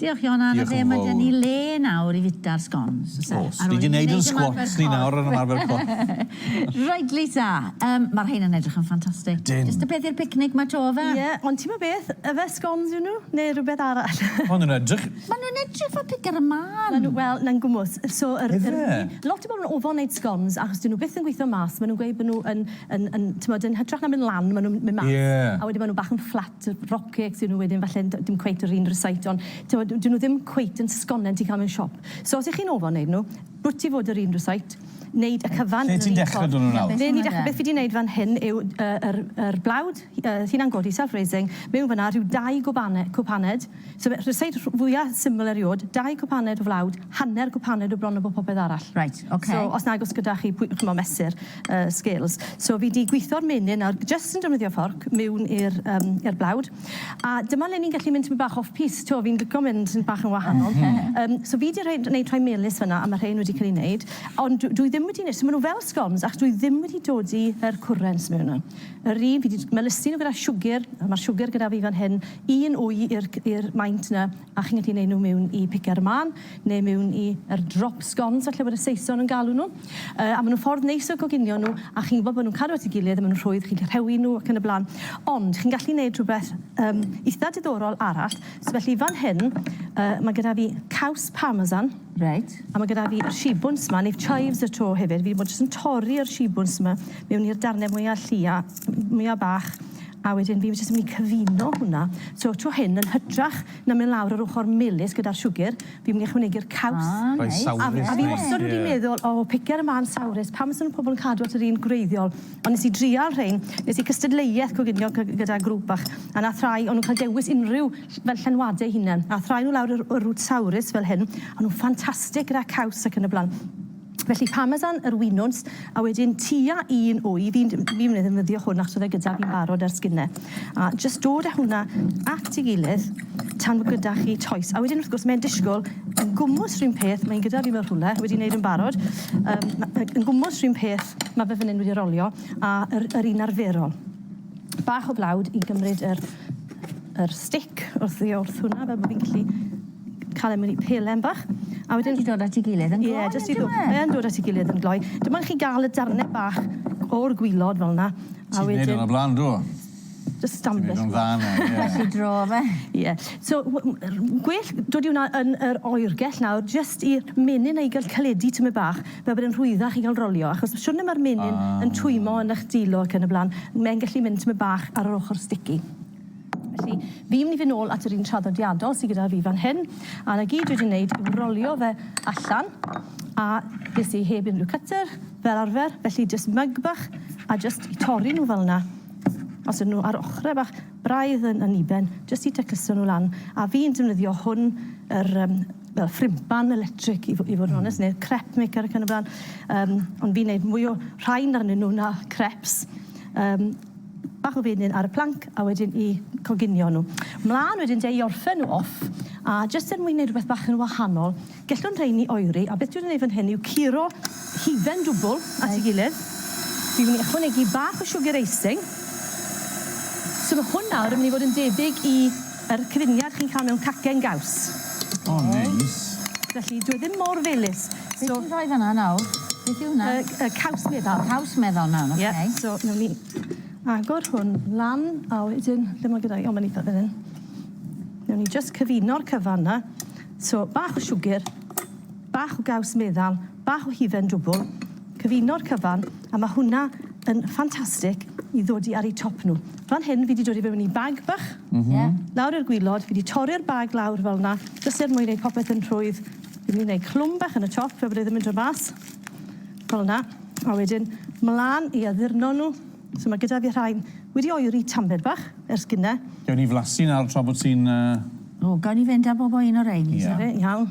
Diolch Ioan Anna Diolch yn fawr. Ble mae 'da ni le nawr i fita'r sgons o's e? O's, ni 'di neud yn sgwats ni nawr yn ymarfer corff. Reit Lisa, yym ma'r rhein yn edrych yn ffantastig. Ydyn. Jyst y peth i'r picnic 'ma 'to yfe? Ie, ond ti'mo' beth, yfe sgons yw nw ne' rwbeth arall? Ma' nw'n edrych... Ma' nw'n edrych fel piga'r y man. Ma' nw, wel, na'n gwmws. So yr... Yfe? Lot o bobol yn ofon neud sgons achos 'dyn nw byth yn gwitho mas, ma' nw'n gweud bo' nw yn yn yn t'mod yn hytrach na myn' lan ma' nw'n myn' mas. Ie. A wedyn ma' nw bach yn fflat. Tibod, rockets yw nhw wedyn falle, ond dim cweit yr un recipe, ond tibod, 'dyn nhw ddim cweit yn sgonen ti'n cael mewn siop. So os 'y chi'n ofal wneud nhw, rwyt ti fod yr un recipe, wneud y cyfan yn yr un ffordd. Lle ti'n dechrau 'da nhw nawr? Ble ni'n dechrau, beth fi 'di wneud fan hyn yw yr yr blawd, hunan godi, self-raising, mewn fan'na, rhyw dau gwbane- cwpaned, So fe- rhyseit rh- fwya syml eriod, dau gwpaned o flawd, hanner gwpaned o bron o bob popeth arall. Reit, ocê. So os nag o's gyda chi pwy- ch'mo' mesur yy scales. So fi 'di gwitho'r menyn nawr jyst yn defnyddio fforc miwn i'r yym i'r blawd. A dyma le ni'n gallu mynd tymed bach off piste, t'wo' fi'n lico mynd yn bach yn wahanol. Oce. Yym so fi 'di rhoi d- neud rhai melys fyn 'na a ma' rhein wedi ca'l 'u neud ond dw- dwi ddim wedi ne- so ma' nw fel scoms achos dwi ddim wedi dodi yr cwrens mewn 'na. Yr un fi 'di j- melysu nw gyda siwgyr a ma'r siwgyr gyda fi fan hyn un wy i'r i'r maint yna a chi'n gallu neud nhw miwn i pice ar y mân neu miwn i yr drop scones falle bod y saeson yn galw nhw yy a ma' nhw'n ffordd neis o goginio nhw a chi'n gwbo bo' nhw'n cadw at ei gilydd a ma' nhw'n rhwydd chi'n gallu rhewi nhw ac yn y blan ond chi'n gallu neud rhwbeth yym itha diddorol arall so felly fan hyn yy ma' gyda fi caws parmesan reit a ma' gyda fi y shibwns ma' neud chives y tro hefyd fi 'di bod jyst yn torri yr shibwns ma' miwn i'r darne mwya llia mwya bach A wedyn fi jyst yn mynd i cyfuno hwnna. So tro hyn yn hytrach na mynd lawr yr ochor melys gyda'r siwgr, fi'n mynd i ychwanegu'r caws. Ah, neis. Rhoi sawrus mewn. A fi wastod wedi meddwl, o, pigiad y man sawrus, pam fysa pobl yn cadw at yr un gwreiddiol? Ond nes i drial rhein, nes i cystadleuaeth coginio gyda grŵp bach, a nath rhai o nhw'n cael dewis unrhyw fel llenwade eu hunen. Nath rhai o nhw lawr y rwt sawrus fel hyn, a nhw'n ffantastig gyda caws ac yn y blaen. Felly parmesan yr winwns a wedyn tua un wy fi'n fi'n ddefnyddio hwn achos oedd e gyda fi'n barod ers gynne. A jyst dod â hwnna at ei gilydd tan bod gyda chi toes. A wedyn wrth gwrs mae'n disgwyl yn gwmws rhywun peth, mae'n gyda fi mewn rhywle, wedi wneud yn barod, um, yn gwmws rhywun peth, mae fe fan hyn wedi rolio, a yr, yr un arferol. Bach o blawd i gymryd yr, yr stick wrth ddi wrth hwnna, fel bod fi'n gallu Cael e mewn i pelen bach. A wedyn... Mae 'di dod at ei gilydd yn gloi on'd yw e? Mae yn dod at ei gilydd yn gloi. Dim ond chi ga'l y darne bach o'r gwilod fel 'na, a wedyn... Ti'n neud 'wn o bla'n do? Jyst stamp e. Ti'n neud o'n dda nawr, ie. Well i dro fe. Ie. So gwell dod i wnna yn yr oergell nawr jyst i menyn ei ga'l caledu tymed bach fel bod e'n rhwyddach i ga'l rolio achos y siwrne ma'r menyn yn twymo yn 'ych dwylo ac yn y bla'n, mae'n gallu mynd tymed bach ar yr ochor sticky. Felly, fi'n mynd i fynd nôl at yr un traddodiadol sydd gyda fi fan hyn, a 'na gyd dwi wedi wneud yw rolio fe allan, a ges i heb unrhyw cutter, fel arfer, felly jyst myg bach, a jyst i torri nhw fel 'na, os ydyn nhw ar ochrau bach braidd yn aniben, jyst i tacluso nhw lan, a fi'n defnyddio hwn, yr yym fel ffrympan electric i fo- i fod yn onest, neu'r crep maker ac yn y blaen, yym ond fi'n wneud mwy o rhain arnyn nhw na creps, yym Bach o fenyn ar y planc a wedyn 'u coginio nhw. Mlân wedyn 'de i orffen nhw off a jyst er mwyn neud rwbeth bach yn wahanol gellwn rheini oeri a beth dwi'n neud fan hyn yw curo hufen dwbwl at ei gilydd. Dwi'n mynd i ychwanegu bach o siwgr eising. So ma' hwn nawr yn mynd i fod yn debyg i Yr cyfuniad chi'n cael mewn cacen gaws. O neis. Felly dyw e ddim mor felys so... Be ti'n rhoi fan'na nawr? Beth yw hwnna? Y y caws meddal. Caws meddal nawr oce. Ie so newn ni agor hwn lan a wedyn ble ma' gyda fi o ma'n itha fyn 'yn. Newn ni jyst cyfuno'r cyfan 'na. So bach o siwgr, bach o gaws meddal, Bach o hufen dwbl, cyfuno'r cyfan, a ma' hwnna yn ffantastic i ddod i ar eu top nhw. Fan hyn fi 'di dod i fewn i bag bach. M-hm. Ie. Lawr i'r gwilod, fi 'di torri'r bag lawr fel 'na, jyst er mwyn neud popeth yn rhwydd. Fi myn' i neud clwm bach yn y top fel bod e ddim yn dod mas. Fel 'na. A wedyn mlan i addurno nhw. So ma' gyda fi rhain wedi oeri tamaid bach ers gynne. Gewn ni flasu nawr tra bod ti'n yy... O, gawn ni fynd a bob o un o rein? Ie. 'Na fe, iawn.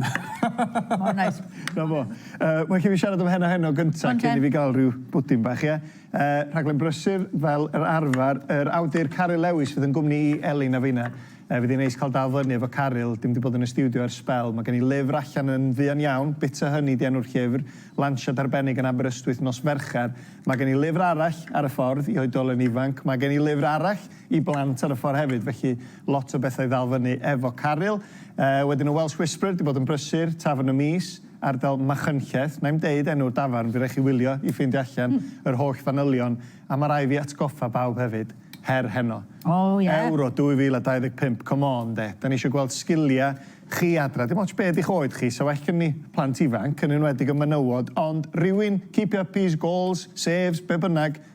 Ma' o'n neis. 'Na fo. Yy ma' rai' fi siarad efo Heno Heno gynta cyn i fi ga'l ryw bwdin bach ie? Yy rhaglen brysur fel yr arfar yr awdur Caryl Lewis fydd yn gwmni i Elin a finna. Yy fydd 'i'n neis ca'l dal fyny efo Caryl, dim 'di bod yn y stiwdio ers sbel. Ma' gen i lyfr allan yn fuan iawn, Bitter Honey 'di enw'r llyfr, lansiad arbennig yn Aberystwyth nos Fercher. Ma' gen i lyfr arall ar y ffordd i oedolyn ifanc, ma' gen i lyfr arall i blant ar y ffordd hefyd, felly lot o bethau i ddal fyny efo Caryl. Uh, wedyn y Welsh Whisperer, di bod yn brysur, Tafern y Mis, ardal Machynlleth. Na i'n deud enw'r dafarn, fi rai chi wylio i ffeindio allan hmm. yr holl fanylion, a mae rai fi atgoffa bawb hefyd, her heno. Oh, yeah. Euro 2025, come on de. Da ni eisiau gweld sgiliau chi adra. Dim ots beth eich oed chi, so well gen ni plant ifanc, yn enwedig y menywod, ond rhywun, keep up his goals, saves, be bynnag,